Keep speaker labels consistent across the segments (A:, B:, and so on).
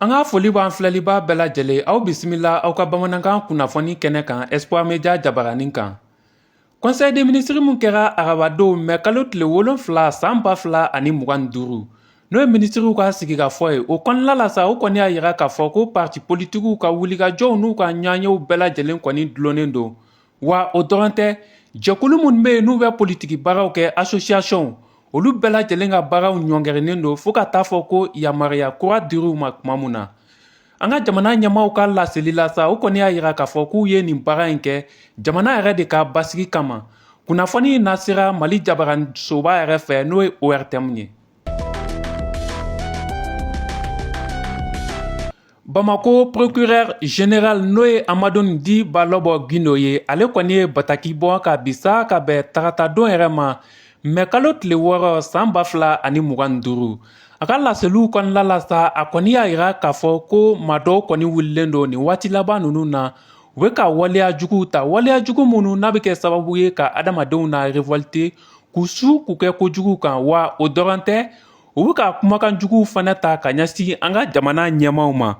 A: An ka foli b'an filɛlibaa bɛɛ lajɛlen aw bisimila aw ka bamanankan kunnafoni kɛnɛ kan Espoir Media jabaranin kan. Conseil des ministres min kɛra arabadon mɛ kalo tile wolonfila san ba fila ani mugan ni duuru n'o ye minisiriw ka sigikafɔ ye o kɔnɔna la sa o kɔni y'a yira k'a fɔ ko parti politikiw ka wulikajɔw n'u ka ɲɔgɔnyew bɛɛ lajɛlen kɔni dulonnen don wa o dɔrɔn tɛ jɛkulu minnu bɛ yen n'u bɛ politiki baaraw kɛ asosiyasɔnw olu bɛɛ lajɛlen ka baaraw ɲɔngirilen don fo ka taa fɔ ko yamaruya kura dir'u ma tuma min na an ka jamana ɲɛmaaw ka laseli la sa o kɔni y'a yira k'a fɔ k'u ye nin baara in kɛ jamana yɛrɛ de ka basigi kama kunnafoni in lasera Mali jabarasoba yɛrɛ fɛ n'o ye ORTM ye Bamakɔ procureur général n'o ye Hamadoun dit Balobo Guindo ye ale kɔni ye bataki bɔ ka bi sa ka bɛn taratadon yɛrɛ ma mɛ kalo tile wɔɔrɔ san ba fila ani mugan ni duuru a ka laseliw kɔnɔna la sa a kɔni y'a yira k'a fɔ ko maa dɔw kɔni wulilen don nin waati laban ninnu na u bɛ ka waleya juguw ta waleya jugu minnu n'a bɛ kɛ sababu ye ka adamadenw na révolter k'u su k'u kɛ kojugu kan wa o dɔrɔn tɛ u bɛ ka kumakan juguw fana ta ka ɲɛsin an ka jamana ɲɛmaaw ma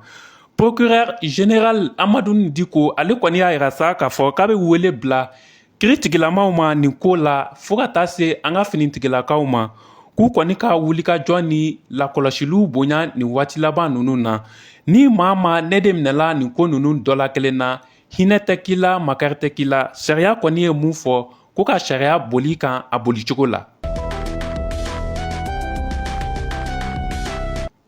A: procureur général Hamadoun dit ko ale kɔni y'a yira sa k'a fɔ k'a bɛ wele bila kiritigilamaw ma nin ko la fo ka taa se an ka finitigilakaw ma k'u kɔni ka wulikajɔ ni lakɔlɔsiliw bonya nin waati laban ninnu na ni maa ma ne de minɛla nin ko ninnu dɔ la kelen na hinɛ tɛ k'i la makari tɛ k'i la sariya kɔni ye mun fɔ ko ka sariya boli kan a boli cogo la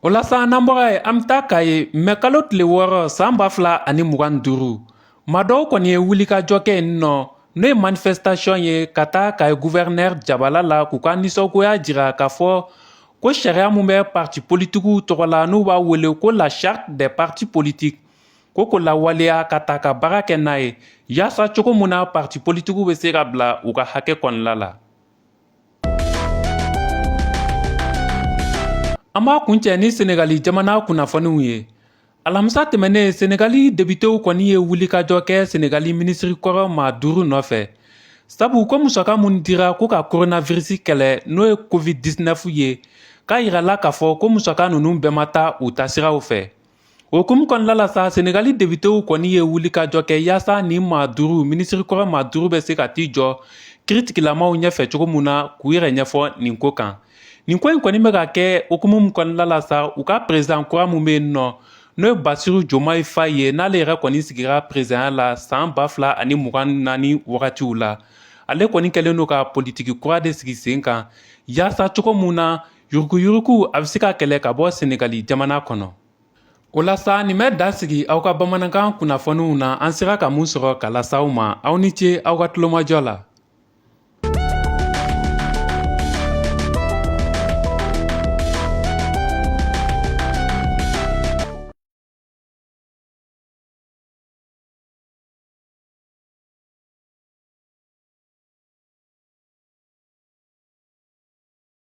A: o la sa n'an bɔra yen an bɛ taa Kayi mɛ kalo tile wɔɔrɔ san ba fila ani mugan ni duuru maa dɔw kɔni ye wulikajɔ kɛ yen nɔ n'o ye manifestation ye ka taa Kayi gouverneur jabala la k'u ka nisɔngoya jira k'a fɔ ko sariya min bɛ parti politikiw tɔgɔ la n'u b'a wele ko la charte des partis politiques ko k'o lawaleya k'a ta ka baara kɛ n'a ye yaasa cogo mun na parti politikiw bɛ se ka bila u ka hakɛ kɔnɔna la an b'a kuncɛ ni senegali jamana kunnafoniw ye alamisa tɛmɛnen senegali depitew kɔni ye wulikajɔ kɛ senegali minisiri kɔrɔ maa duuru nɔfɛ sabu ko musaka minnu dira ko ka koronavirisi kɛlɛ n'o ye covid-19 ye k'a yirala k'a fɔ ko musaka ninnu bɛɛ ma taa u taasiraw fɛ O hukumu kɔnɔna la sa senegali depitew kɔni ye wulikajɔ kɛ yaasa nin maa duuru minisiri kɔrɔ maa duuru bɛ se ka t'i jɔ kiritigilamaw ɲɛfɛ cogo min na k'u yɛrɛ ɲɛfɔ nin ko kan nin ko in kɔni bɛ ka kɛ hukumu min kɔnɔna la sa u ka perezidan kura min bɛ yen nɔ n'o ye basiru jomayi fayi ye n'ale yɛrɛ kɔni sigira perezidanya la san ba fila ani mugan naani wagatiw la ale kɔni kɛlen don ka politiki kura de sigi sen kan yaasa cogo min na yuruguyurugu a bɛ se ka kɛlɛ ka bɔ senegali jamana kɔnɔ o la sa nin bɛ dan sigi aw ka bamanankan kunnafoniw na an sera ka mun sɔrɔ ka lase aw ma aw ni ce aw ka tulomajɔ la